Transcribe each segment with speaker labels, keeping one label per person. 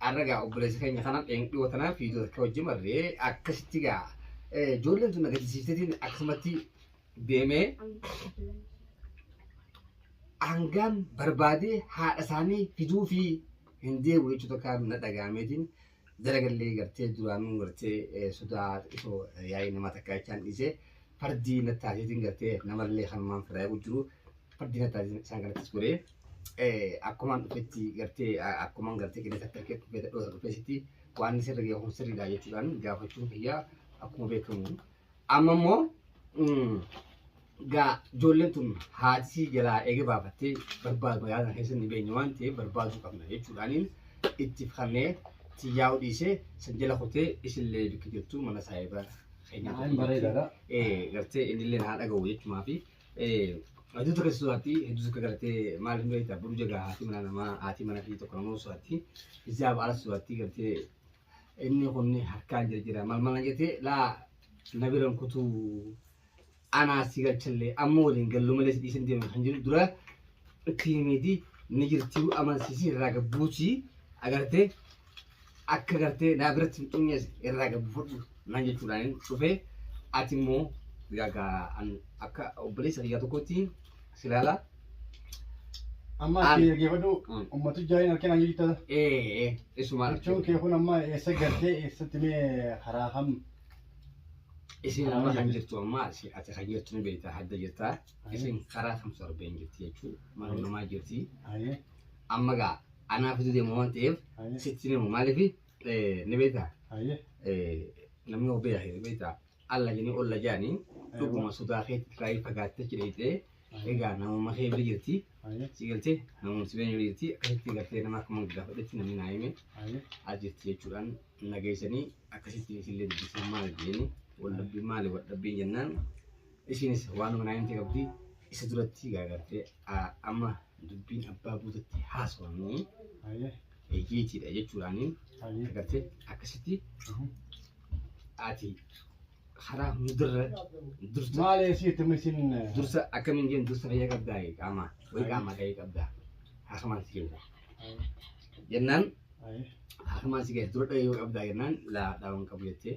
Speaker 1: Arra gaa obboleessa keenya kana dhiyoo tanaa fi akka wajjin marree akkasitti gaa ijoolleen tun agarsiistetiin akkasumatti deemee hangaan barbaadee haadha isaanii fiduu fi hin deebi'u jechuu tokko na dhaga'ameetiin dalagallee gartee duraanuu gartee sodaa xiqqoo yaa'ii nama takka jechaan dhiisee fardii na taasiseetiin gartee namallee kanumaan firaa jiru fardii na taasiseetiin isaan kanattis godhee. akkumaan dhufetti gartee akkumaan gartee qinee takka kee dhufee dhoosa dhufee sitti waan sirri ga'e kun sirri dha jechuudhaan gaafachuun kiyyaa akkuma beekamu. Amma immoo gaa ijoolleen tun haatisii jalaa eega baafattee barbaadu magaalaa keessa ni beenye waan ta'eef barbaaduu qabna jechuudhaaniin itti fannee tiyyaa'u dhiisee san jala kutee isillee bikki jirtu mana saahiba keenyaa.
Speaker 2: Bareedaadha. Gartee
Speaker 1: innillee naa dhaga'u jechumaa fi Aduu tokko suuraatti hedduu tokko gartee maal hin beektaa buruu jagaa haati mana namaa haati mana fi tokko namoo suuraatti isaa baala suuraatti gartee inni kunni harkaan jira jira maal maal jetee laa na biran kutuu anaa si galchallee amma waliin galluu malee si dhiisan deemu kan jiru dura tiimiitii ni jirtii amansiisii irraa gabbuutii agartee akka gartee naa biratti hin dhumne irraa gabu fudhu naan jechuudhaan dhufe ati immoo gagaa an akka obboleessa kiyyaa tokkotti si ilaala.
Speaker 2: Amma An- ati dhaggeeffadhu Mm. ummatu jaaliin harkee naan jirta. Ee ee isumaa
Speaker 1: Jechuun kee kun amma eessa
Speaker 2: galtee eessatti mee karaa kam
Speaker 1: isin amma kan jirtu amma si- ati kan jirtu ni beekta hadda jirta isin karaa kam sorbeen jirti jechuun mana namaa jirti Ayyee. amma gaa anaa fiduu deema waan ta'eef Aye. sitti hin himu maaliif eh, ni beektaa Aye. eh, namni of beekaa hin beektaa alla jedhanii olla jedhanii dhuguma sodaa keetti kaayee fagaattee achi dheeyxee egaa namummaa kee bira jirti Aye. si galtee namummaa si bira jirti akkasitti galtee nama akkuma gaafadhetti namni naa hime Aye. as jirti jechuudhaan nageessanii akkasitti isillee dubbisee maal jedhanii waldhabbii maali waldhabbii jennaan Ishiinis waanuma naayinti qabdi isa duratti garagartee amma dubbiin abbaa buutatti haasofamee eeggeetiidha jechuudhaaniin agartee akkasitti ati karaa hundarra dursa maal eessii itti misin
Speaker 2: dursa akkamiin jeen
Speaker 1: dursa fayyaa qabdaa qaamaa way qaamaa ta'ee qabdaa haakamaan si keessa jennaan haakamaan si keessa dura dhagee qabdaa jennaan laa dhaawan qabu jettee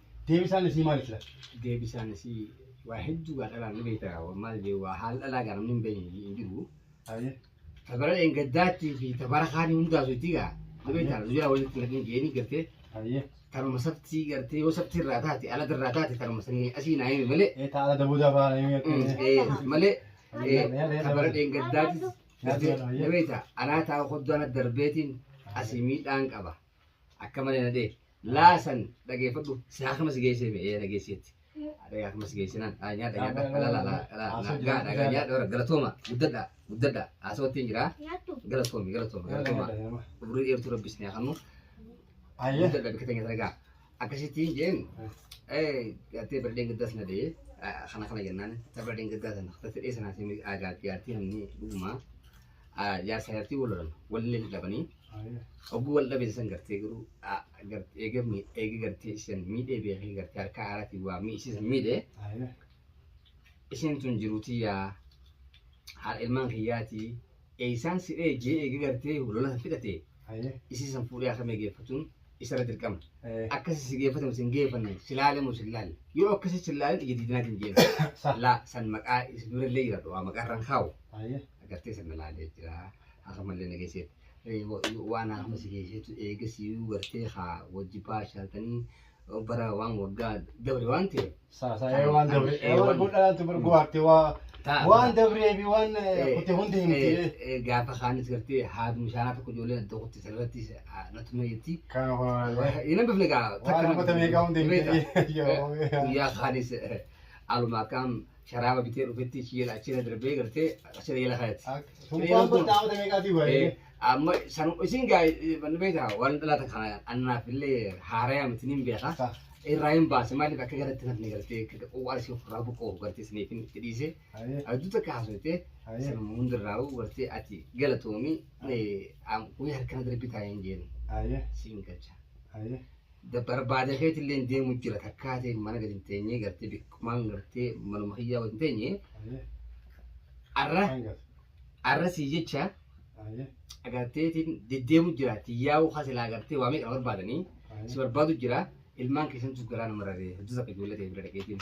Speaker 2: Deebisaan isii maali sila? Deebisaan isii
Speaker 1: waa hedduu gaa dhalaan ni beekta gaa maal jee waa haal dhalaa gaa namni hin beekne hin jiru. Ayyee.
Speaker 2: Tabara
Speaker 1: dheengaddaattii fi tabara kaanii hundaasu itti gaa. Ni beekta nu jira walitti naqin jeeni gartee. Ayyee. Kanuma
Speaker 2: sabtii
Speaker 1: gartee yoo sabtii irraa taate ala irraa taate kanuma sanii asii naa himi malee. Ee taala dabuu dafaa na
Speaker 2: himi akka inni. Eh, malee
Speaker 1: eh, tabara dheengaddaatis gartee ni beekta anaa taa'u hoddaana darbeetiin asii miidhaan qaba. Akka malee na dheeke. Laasan dhageeffadhu si haakama si geessee mee ee dhageesseetti. Dhagaa haakama si geessee naan dhaa nyaadha nyaadha dhala dhala dhala nagaa dhagaa nyaadha warra galatooma guddadha guddadha haasawattiin jira Nyaattu. galatoomi galatoomi galatoomi. Umrii dheertuu rabbis ni haakamu. Ayyee.
Speaker 2: Guddadha bikka teenya dhagaa.
Speaker 1: Akkasittiin jeen gattee birdeen gaddaas na dhee kana kana jennaan ta birdeen gaddaa sana gattee dhee sanaatiin aagaa jaartii namni dhugumaa. jaarsa jartii wal lolan wallee ni dhabanii ogguu wal dhabe san gartee garuu eega eega gartee isin miidhee beekee gartee harka haaratiin waa mii isin miidhee isin tun jiruutii yaa haadha ilmaan kiyyaatii eeysaan si dhee jee eega gartee lola san fixate isin san fuudhee akka mee geeffatuun isarra dirqama akkasi si geeffatamu sin geeffanne si laalamu sin laalle yoo akkasi sin laalle ija diidinaatiin jeena laa san maqaa isin durallee jira du'aa maqaa irraan kaa'u agartee sana laalee jira hakamallee na geesseet waan haakuma si geesseetu eegasiyuu gartee haa wajji baashaaltanii bara waan waggaa dabre waan ta'e Saasaa'ee waan dabre
Speaker 2: Eh, waan- godhaatu bar gowaarte waa Ta'a. waan dabree fi waan kutte hundi himti. Eh, eh, gaafa kaanis gartee
Speaker 1: haati mushaanaa tokko ijoollee adda kutte sanarratti natuma jetti Kan waan Ina bifni gaa waan hammata meeqaa hundi
Speaker 2: himti. Yoo. guyyaa
Speaker 1: kaanis aluma akkaan sharaaba bitee dhufetti ishii jala achirra darbee gartee achirra jala kaayatti. Sumpaan bartaa
Speaker 2: amata meeqaatii baay'ee. Amma san
Speaker 1: isin gaa manni beektaa waan dhalaata kana annaaf illee haaraya miti niin beeka. Sa. Irraa hin baase maaliif akka garatti nafni gartee waan isin ofirraa buqqoo gartee isiniif hin itti dhiise. Hayyee. Adduu takka haasofte Hayyee. san hundarraa gartee ati galatoomii guyyaa harkana darbii taa'ee hin jeenu Hayyee. siin galcha. Hayyee. barbaada keetillee deemu jira takkaa ta'e mana gadi hin teenye gartee bikkumaan gartee manuma kiyyaa wajjin teenye arra arra sii jecha agarteetiin deddeemu jira tiyyaa'uu hasilaa agartee waa meeqa barbaadanii si barbaadu jira ilmaan keessantu garaa nama raree hojii akka ijoollee ta'e bira dhaqeetiin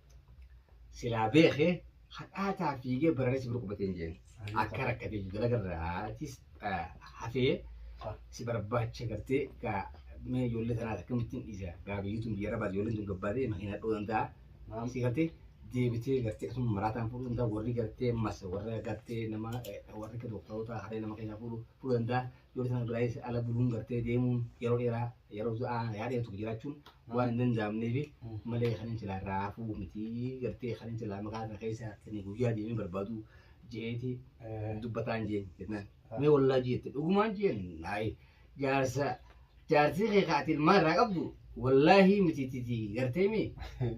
Speaker 1: Silaa beeke hadhaataa fiigee baraaree si bira qubatee hin jeen. Akka rakkatee jiru dalagarraatis hafee si barbaacha gartee gaa mee ijoollee tanaas akkamittiin dhiisa gaa biyyuutuun biyya rabaas ijoolleen tun gabbaatee makiina dhoo danda'a. Si gartee deebitee gartee asuma maraataan fuudhuu danda'a warri gartee mas warra gartee nama warri dooktaroota haree nama keessaa fuudhuu danda'a. Ijoollee tana biraayis ala buluun gartee deemuun yeroo dheeraa Yeroo du'aa yaada tokko jiraachuun waan hin danda'amneef malee kan hin silaa irraa hafuu miti gartee kan hin silaa maqaa kana keessa kan guyyaa deemee barbaadu jeeti dubbataan jeen jennaan. Mee wallaa jeette dhugumaan jeen naayi jaarsa jaarsii kee kaati ilmaa irraa qabdu wallaahi miti titi gartee mee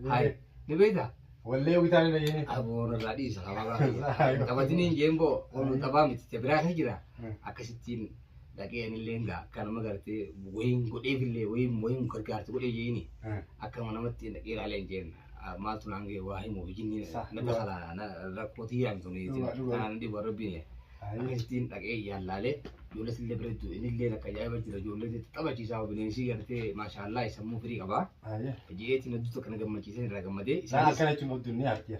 Speaker 1: hayi ni beektaa. Wallee witaan hin
Speaker 2: dhageenye. Aboon irraa dhiisa
Speaker 1: qabaa qabatiniin jeen boo taphaa miti biraa kan jira akkasittiin. dhaqee anillee gaa akka nama gartee wayiin godheefillee wayiin wayiin gargaarti godhee jeeni akka nama namatti dhaqee ilaalee hin jeen maaltu naan ga'e waa himuuf jinni Sah, na dhugaa. dakala na rakkootii yaami tuni Dhugaa, dhugaa. kanaan dhibu rabbiin yaa akkasittiin dhaqee yaallaalee ijoollee sillee bareeddu inillee akka ajaa'iba jira ijoollee taphachiisaa bineensi gartee maashaallaa sammuu firii qabaa jeetiin hedduu tokko na gammachiisee irraa gammadee Isaan isaanis akkana jechuun of dunnee
Speaker 2: artiya.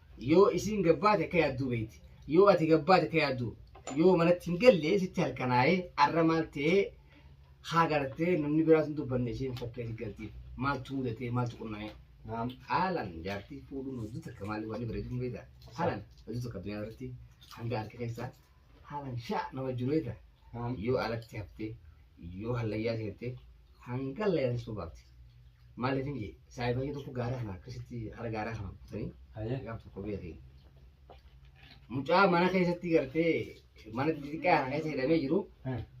Speaker 1: Yoo isiin gad baate akka yaadduu beekti. Yoo ati gad baate akka yaadduu. Yoo manatti hin galle sitti halkanaa'ee arra maal ta'ee haa gartee namni biraas hin dubbanne isheen fakkeessi galtiif. Maaltu mudatee maaltu qunnamee. Naam haalan jaartii fuudhuun hojii takka maali wanni bareedu hin beektaa. Haalan hojii takka addunyaa irratti hanga harki keessaa Haalan shaa nama juneeta yoo alatti haftee yoo hallayyaa seentee hanga layaan sun baafti. Maaliif hin jee saayiba ishee tokko gaaraa kana akkasitti hara gaaraa kana kutanii Haye. gaaf tokko beekee. Mucaa mana keessatti gartee mana xixiqqaa kana keessa hidhamee jiru Eh.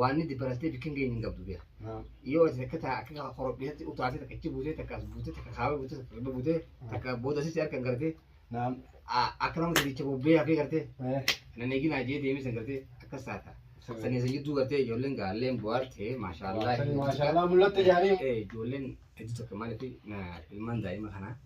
Speaker 1: waanni dibarattee bikkin geenye hin qabdu beeka. Yoo ati takka taa akka korophiisatti utaatee takka ichi buutee takka as buutee takka kaabee buutee takka kibba buutee takka booda sisi harka hin gartee Naam. akka nama gadicha bobbee hafee gartee nan eegin ajee deemee san gartee akkas taata. Sanii san jidduu gartee ijoolleen gaalleen bu'aartee maashaallah. Maashaallah mul'atte
Speaker 2: jaanii. Ijoolleen hedduu
Speaker 1: takka maaliif ilmaan daa'ima kanaa.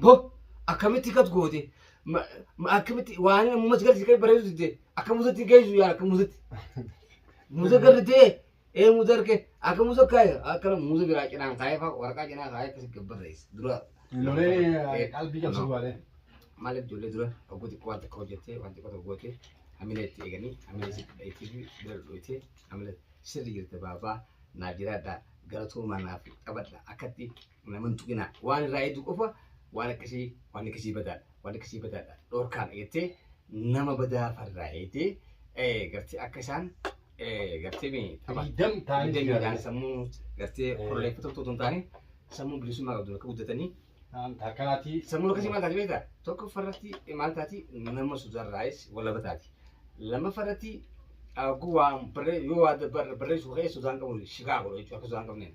Speaker 1: Bo akkamitti akkas goote Ma- ma- akkamitti waan ammumatti galti kan bareedu didde akka musatti geessu yaa akka musatti musa garritee ee musa harke akka musa kaaya akkana musa biraa cinaan kaayee faa waraqaa cinaa kaayee akkasi gabbarreessa dura Lolee
Speaker 2: qalbii cabsuu baatee. maaliif ijoollee
Speaker 1: dura oguu xiqqoo waan xiqqoo hojjettee waan xiqqoo tokko gootee hamila itti eeganii hamila itti dhayitee fi bira dhooyitee hamila sirri jirte baabaa naa jiraadhaa galatoomaa naaf qabadha akkatti Nama hin tuqinaa. Waan irraa eegdu qofa waan akkasii waan akkasii badaadha. Waan akkasii badaadha. Dhorkaadha jettee nama badaa farraa eegdee eh, gartee akka isaan eh, gartee mi tapha. Firiidam taa'anii Firiidam jiraatan. ta'anii sammuu gartee Eh. koloneeffatoo otoo hin taane sammuu bilisummaa qabdu akka guddatanii Akkanaatii.
Speaker 2: Sammuu akkasii maal taati
Speaker 1: beektaa? Tokkoffaa irratti maal taati? Nama suutarraayis walaba taati. Lammaffaa irratti oguu waan barree yoo waa barreessu ka'e sudaan qabu shikaa godhu jechuudha akka sudaan qabneen.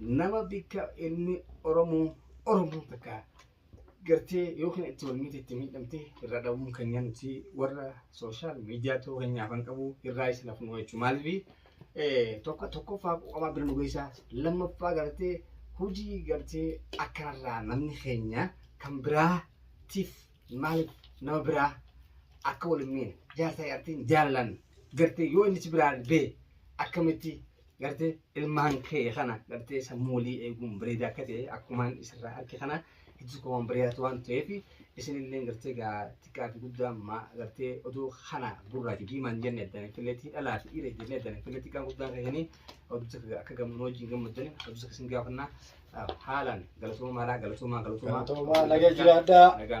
Speaker 1: nama bikka inni Oromoo Oromoo takka gartee yookiin itti wal miti itti miidhamte irraa dhabuun keenya nuti warra sooshaal miidiyaa ta'uu keenyaaf kan qabu irraa isin hafnu jechuudha. Maaliif tokko tokkoffaa qoqamaa bira nu geessaa lammaffaa gartee hojii gartee akkanarraa namni keenya kan biraatiif maaliif nama biraa akka wal hin miine jaarsaa jaartiin jaalan gartee yoo inni si biraa bee akkamitti gartee ilmaan kee kana gartee sammuu walii eeguun bareedaa akka ta'e akkumaan isirraa harki kana hojii koo waan bareedaatu waan ta'eef isinillee gartee gaa xiqqaa fi guddaa maa gartee oduu kana gurraa fi diimaan jenne addaan filleetti dhalaa fi dhiira jenne addaan filleetti xiqqaa guddaan keessanii oduu takka akka gamnuu wajjin gammaddan oduu takka isin gaafannaa haalaan galatoomaa haalaan galatoomaa galatoomaa Galatoomaa naga jiraadhaa. nagaan